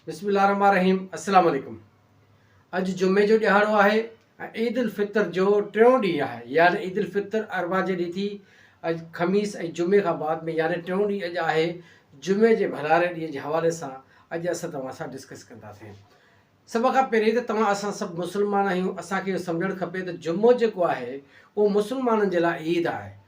بسم الله الرحمن الرحيم السلام عليڪم اڄ جمعي جو ڏهاڙو آهي ۽ عيد الفطر جو ٽيون ڏينهن آهي يعني عيد الفطر اربع جي ڏينهن ٿي اڄ خميس ۽ جمعي کان بعد ۾ يعني ٽيون ڏينهن اڄ آهي جمعي جي ڀلاري ڏينهن جي حوالي سان اڄ اسان توهان سان ڊسڪس ڪنداسين سڀ کان پهرين ته توهان اسان سڀ مسلمان آهيون اسان کي سمجهڻ کپي ته جمعو جيڪو آهي اهو مسلمانن جي لاء عيد آهي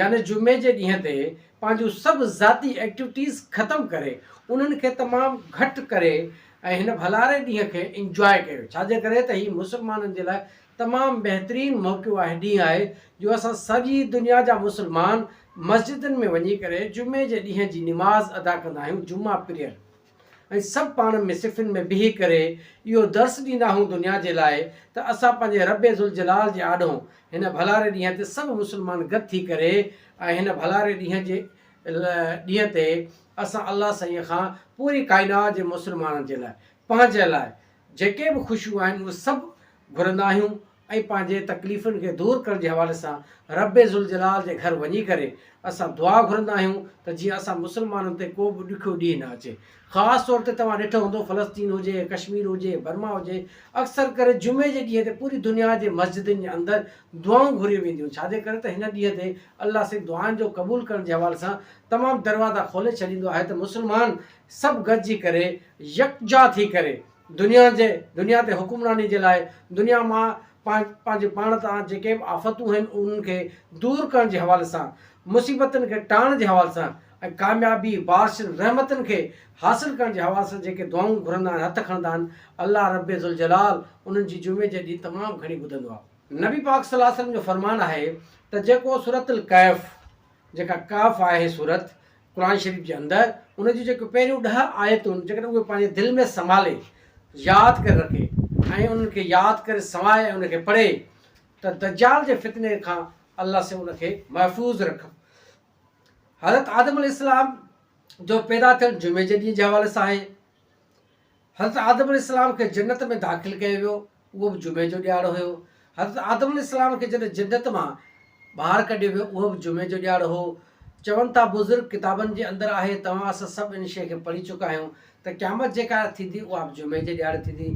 يعني جمعي جي ڏينهن تي پنهنجون سڀ ذاتي ايڪٽويٽيز ختم ڪري انهن کي تمام گهٽ ڪري ۽ هن ڀلاري ڏينهن کي انجواء ڪيو ڇا جي ڪري ته هي مسلمانن جي لاء تمام بهترين موقعو آهي ڏينهن آهي جو اسان سڄي دنيا جا مسلمان مسجدن ۾ وڃي ڪري جمعي جي ڏينهن جي نماز ادا ڪندا آهيون جمعه پريئر ۽ سڀ پاڻ ۾ صفن ۾ بيهي ڪري اهو درس ڏيندا هون دنيا جي لاء ته اسان پنهنجي رب ذوالجلال جي آڏو هن ڀلاري ڏينهن تي سڀ مسلمان گڏ ٿي ڪري ۽ هن ڀلاري ڏينهن جي ڏينهن تي اسان الله سائين کان پوري ڪائنات جي مسلمانن جي لاء پنهنجي لاء جيڪي به خوشيون آهن اهي سڀ گهرندا آهيون ۽ پنهنجي تڪليفن کي دور ڪرڻ جي حوالي سان ربّ ذوالجلال جي گهر وڃي ڪري اسان دعا گهرندا آهيون ته جيئن اسان مسلمانن تي ڪو به ڏکيو ڏينهن نه اچي خاص طور تي توهان ڏٺو هوندو فلسطين هجي ڪشمير هجي برما هجي اڪثر ڪري جمعي جي ڏينهن تي پوري دنيا جي مسجدن جي اندر دعائون گهريون وينديون ڇا جي ڪري ته هن ڏينهن تي الله سائين دعائن جو قبول ڪرڻ جي حوالي سان تمام دروازا کولي ڇڏيندو آهي ته مسلمان سڀ گڏجي ڪري يڪجا ٿي ڪري دنيا جي دنيا تي حڪمراني جي لاء دنيا مان پنهنجي پاڻ تان جيڪي به آفتون آهن انهن کي دور ڪرڻ جي حوالي سان، مصيبتن کي ٽاهڻ جي حوالي سان ۽ ڪاميابي، بارشن، رحمتن کي حاصل ڪرڻ جي حوالي سان جيڪي دعائون گهرندا آهن، هٿ کڻندا آهن، الله ربّ ذوالجلال انهن جي جمعي جي ڏينهن تمام گهڻي ٻڌندو آهي. نبي پاڪ صلّي الله عليه وسلّم جو فرمان آهي ته جيڪو سورة الڪهف، جيڪا ڪهف آهي سورت، قرآن شريف جي اندر ان جون جيڪي پهريون ڏهه آيتون جيڪڏهن اهي پنهنجي دل ۾ سنڀالي ياد ڪري رکي ۽ انهن کي ياد ڪري سنوائي ۽ ان کي پڙهي ته دجال جي فتني کان الله سي ان کي محفوظ رکن حضرت آدم عليه السلام جو پيدا ٿيڻ جمعي جي ڏينهن جي حوالي سان آهي حضرت آدم عليه السلام کي جنت ۾ داخل ڪيو ويو، اهو به جمعي جو ڏيهاڙو هيو. حضرت آدم عليه السلام کي جڏهن جنت مان ٻاهر ڪڍيو ويو، اهو به جمعي جو ڏيهاڙو هو. چون ٿا بزرگ ڪتابن جي اندر آهي، توهان اسان سڀ ان شيء کي پڙهي چڪا آهيون ته قيامت جيڪا ٿيندي اها به جمعي جي ڏيهاڙي ٿيندي.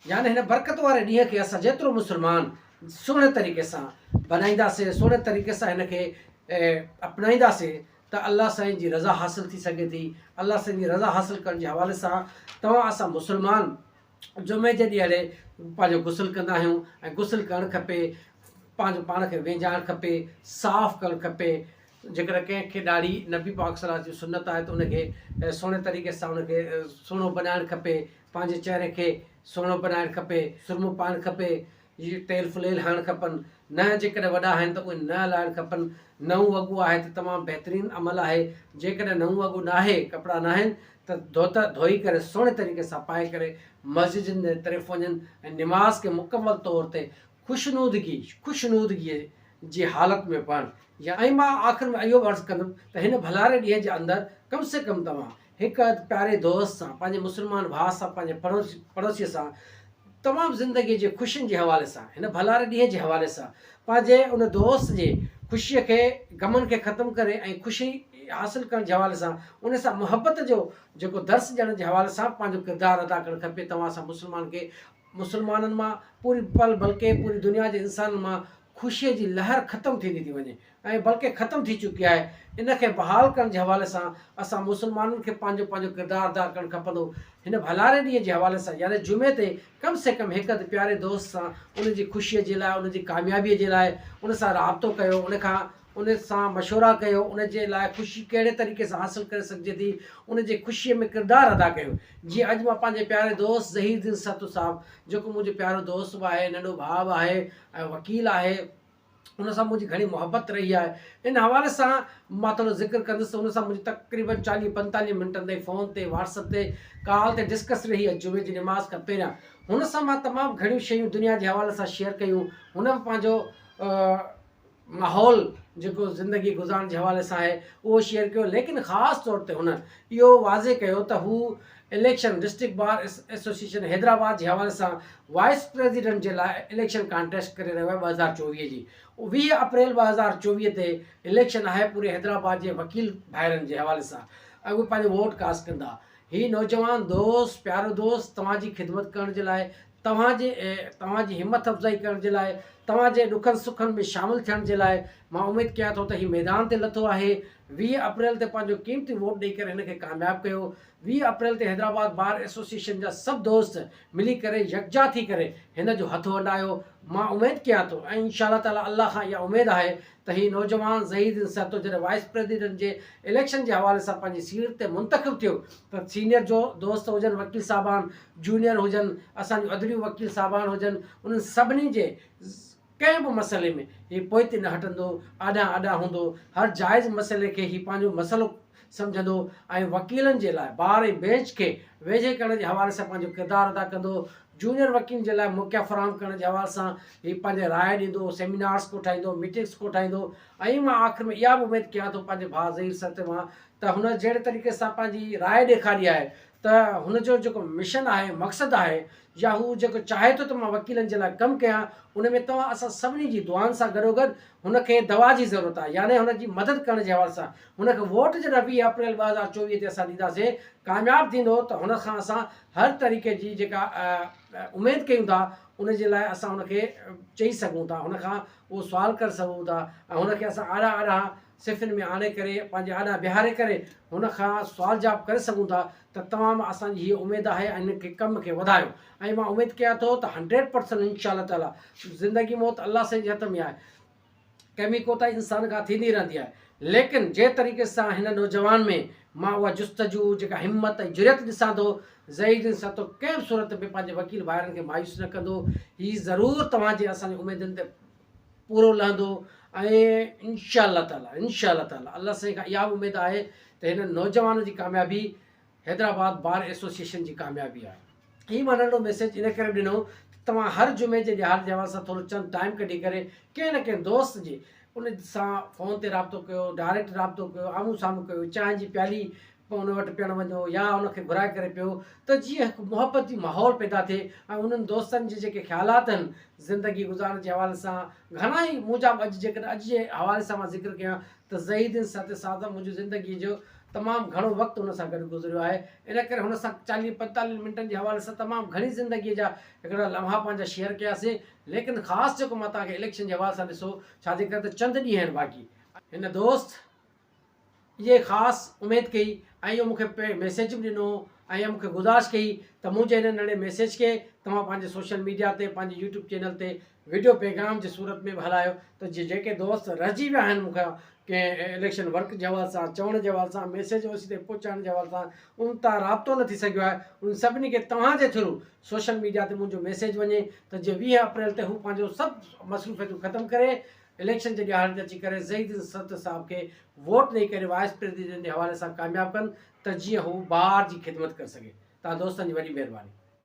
يعني هن برڪت واري ڏينهن کي اسان جيترو مسلمان سهڻي طريقي سان بنائينداسين سهڻي طريقي سان هن کي اپنائينداسين ته الله سائين جي رضا حاصل ٿي سگهي ٿي الله سائين جي رضا حاصل ڪرڻ جي حوالي سان توهان اسان مسلمان جمعي جي ڏيهڙي پنهنجو غسل ڪندا آهيون ۽ غسل ڪرڻ کپي پنهنجو پاڻ کي ويجهائڻ کپي صاف ڪرڻ کپي جيڪڏهن ڪنهن کي ڏاڙهي نبي پاڪ صلاح جي سنت آهي ته ان کي سهڻي طريقي سان ان کي سهڻو بنائڻ کپي پنهنجي چهري کي سهڻو بنائڻ کپي، سرمو پائڻ کپي، تيل ڦليل هڻڻ کپن، ننهن جيڪڏهن وڏا آهن ته اهي ننهن لاهڻ کپن، نئون وڳو آهي ته تمام بهترين عمل آهي، جيڪڏهن نئون وڳو ناهي، ڪپڙا ناهن ته ڌوتا ڌوئي ڪري سهڻي طريقي سان پائي ڪري مسجدن جي طرف وڃن ۽ نماز کي مڪمل طور تي خوشنودگي، خوشنودگيء، جي حالت ۾ پڙهن. ۽ مان آخر ۾ اهو به عرض ڪندم ته هن ڀلاري ڏينهن جي اندر ڪم سي ڪم توهان هڪ اڌ پياري دوست سان، پنهنجي مسلمان ڀاء سان، پنهنجي پڙوسيء سان، تمام زندگيء جي خوشين جي حوالي سان، هن ڀلاري ڏينهن جي حوالي سان، پنهنجي ان دوست جي خوشيء کي، غمن کي ختم ڪري ۽ خوشي حاصل ڪرڻ جي حوالي سان، ان سان محبت جو جيڪو درس ڏيڻ جي حوالي سان پنهنجو ڪردار ادا ڪرڻ کپي، توهان سان مسلمان کي مسلمانن مان پوري بلڪه پوري دنيا جي انسانن مان خوشيء جي لهر ختم ٿيندي ٿي وڃي. ۽ بلڪه ختم ٿي چڪي آهي ان کي بحال ڪرڻ جي حوالي سان اسان مسلمانن کي پنهنجو پنهنجو ڪردار ادا ڪرڻ کپندو هن ڀلاري ڏينهن جي حوالي سان يعني جمعي تي ڪم سي ڪم هڪ اڌ پياري دوست سان ان جي خوشي جي لاء ان جي ڪاميابي جي لاء ان سان رابطو ڪيو ان کان ان سان مشورا ڪيو ان جي لاء خوشي ڪهڙي طريقي سان حاصل ڪري سگهجي ٿي ان جي خوشي ۾ ڪردار ادا ڪيو جيئن اڄ مان پنهنجي پياري دوست ظهير الدين سرتو صاحب جيڪو منهنجو پيارو دوست به آهي ننڍو ڀاء به آهي ۽ وڪيل آهي ان سان منهنجي گهڻي محبت رهي آهي. ان حوالي سان مان ٿورو ذڪر ڪندس ته ان سان منهنجي تقريبن چاليهه پنجتاليهه منٽن تائين فون تي واٽس اپ تي ڪال تي ڊسڪس رهي آهي جمعي جي نماز کان پهريان هن سان مان تمام گهڻيون شيون دنيا جي حوالي سان شيئر ڪيون هن به پنهنجو ماحول جيڪو زندگي گذارڻ جي حوالي سان آهي اهو شيئر ڪيو ليڪن خاص طور تي هن اهو واضح ڪيو ته هو election, district bar association Hyderabad جي حوالي سان وائيس پريزيڊنٽ جي لاء اليڪشن ڪانٽيسٽ ڪري رهيو آهي ٻه هزار چوويهه جي ويهه اپريل ٻه هزار چوويهه تي اليڪشن آهي پوري حيدرآباد جي وڪيل ڀائرن جي حوالي سان اڳ پنهنجو ووٽ ڪاسٽ ڪندا هي نوجوان دوست پيارو دوست توهان جي خدمت ڪرڻ جي لاء توهان جي توهان جي همٿ افزائي ڪرڻ جي لاء توهان جي ڏکن سکن ۾ شامل ٿيڻ جي لاء مان اميد ڪيان ٿو ته هي ميدان تي لٿو آهي ويهه اپريل تي پنهنجو قيمتي ووٽ ڏئي ڪري هن کي ڪامياب ڪيو ويهه اپريل تي حيدرآباد بار ايسوسيئيشن جا سڀ دوست ملي ڪري يڪجا ٿي ڪري هن جو هٿ ونڊايو مان اميد ڪيان ٿو ۽ انشاء الله تعالي الله کان اها اميد آهي ته هي نوجوان ظهير الدين سهتو جڏهن وائيس پريزيڊنٽ جي اليڪشن جي حوالي سان پنهنجي سيٽ تي منتخب ٿيو ته سينيئر جو دوست هجن وڪيل صاحبان جونيئر هجن اسان جون ادڙيون وڪيل صاحبان هجن انهن سڀني جي ڪنهن به مسئلي ۾ هي پوئتي نه هٽندو آڏانهن آڏانهن هوندو هر جائز مسئلي کي هي پنهنجو مسئلو سمجهندو ۽ وڪيلن جي لاء بار ۽ بئنچ کي ويجهي ڪرڻ جي حوالي سان پنهنجو ڪردار ادا ڪندو. جونيئر وڪيلن جي لاء موقعا فراهم ڪرڻ جي حوالي سان هي پنهنجي راء ڏيندو، سيمينارز ڪوٺائيندو، ميٽنگز ڪوٺائيندو ۽ مان آخر ۾ اها به اميد ڪيان ٿو پنهنجي ڀاء ظهير سرتي مان ته هن جهڙي طريقي سان پنهنجي راء ڏيکاري آهي ته هن جو جيڪو مشن آهي، مقصد آهي يا هو جيڪو چاهي ٿو ته مان وڪيلن جي لاء ڪم ڪيان ان ۾ توهان اسان سڀني جي دعائن سان گڏوگڏ هن کي دوا جي ضرورت آهي يعني هن جي مدد ڪرڻ جي حوالي سان هن کي ووٽ جڏهن ويهه اپريل ٻه هزار چوويهه تي اسان ڏينداسين ڪامياب ٿيندو ته هن کان اسان هر طريقي جي جيڪا اميد ڪيون ٿا ان جي لاء اسان هن کي چئي سگهون ٿا هن کان اهو سوال ڪري سگهون ٿا ۽ هن کي اسان آڏا آڏا صفن ۾ آڻي ڪري پنهنجي آڏا بيهاري ڪري هن کان سوال جواب ڪري سگهون ٿا ته توهان مان اسان جي هيء اميد آهي ۽ هن کي ڪم کي وڌايو ۽ مان اميد ڪيان ٿو ته هنڊريڊ پرسنٽ انشاء الله تعاليٰ زندگي موت الله سائين جي هٿ ۾ آهي ڪمي ڪوتاهي انسان کان ٿيندي رهندي آهي ليڪن جنهن طريقي سان هن نوجوان ۾ مان اها جستجو جيڪا همت ۽ جرئت ڏسان ٿو زهير جن سان تو ڪنهن به صورت ۾ پنهنجي وڪيل ڀائرن کي مايوس نه ڪندو هي ضرور توهان جي اسان جي اميدن تي پورو لهندو ۽ انشاء الله تعالی انشاء الله تعالی الله سائين کان اها اميد آهي ته هن نوجوان جي ڪاميابي حيدرآباد بار ايسوسيئيشن جي ڪاميابي آهي. هي مان ننڍو ميسيج ان ڪري ڏنو ته توهان هر جمعي جي ڏهاڙي تي اوهان سان ٿورو چند ٽائيم ڪڍي ڪري ڪنهن نه ڪنهن دوست جي ان سان فون تي رابطو ڪيو، ڊائريڪٽ رابطو ڪيو، آمهون سامهون ڪيو، چانهه جي پيالي ان وٽ پيڻ وڃو يا ان کي گهرائي ڪري پيو ته جيئن هڪ محبتي ماحول پيدا ٿئي ۽ انهن دوستن جي جيڪي خيالات آهن زندگي گذارڻ جي حوالي سان گهڻا ئي مون جا به اڄ جيڪڏهن اڄ جي حوالي سان مان ذڪر ڪيان ته ضحي الدين سهتي صاحب سان منهنجي زندگيء جو تمام گهڻو وقت ان سان گڏ گذريو آهي، ان ڪري هن سان چاليهه پنجتاليهن منٽن جي حوالي سان تمام گهڻي زندگيء جا هڪڙا لمحا پنهنجا شيئر ڪياسين، ليڪن خاص جيڪو مان توهان کي اليڪشن جي حوالي سان ڏسو ڇا جي ڪري ته چند ڏينهن آهن باقي، هن دوست اهي خاص اميد ڪئي ۽ اهو مون کي پهرين ميسيج به ڏنو ۽ مون کي گذارش ڪئي ته منهنجي هن ننڍي ميسيج کي توهان پنهنجي سوشل ميڊيا تي پنهنجي يوٽيوب چينل تي وڊيو پيغام جي صورت ۾ به هلايو ته جي جيڪي دوست رهجي ويا آهن مون کان ڪنهن اليڪشن ورڪ جي حوالي سان چوڻ جي حوالي سان ميسيج اوسي تائين پهچائڻ جي حوالي سان ان تان رابطو نه ٿي سگهيو آهي ان سڀني کي توهان جي ٿرو سوشل ميڊيا تي منهنجو ميسيج وڃي ته جي ويهه اپريل تي هو پنهنجو سڀ مصروفيتون ختم ڪري اليڪشن جي ڏيهاڙي تي اچي ڪري زهيد الدين ستر صاحب کي ووٽ ڏئي ڪري وائيس پريزيڊنٽ جي حوالي سان ڪامياب ڪن ته جيئن هو بار جي خدمت ڪري سگهي توهان دوستن جي وڏي مهرباني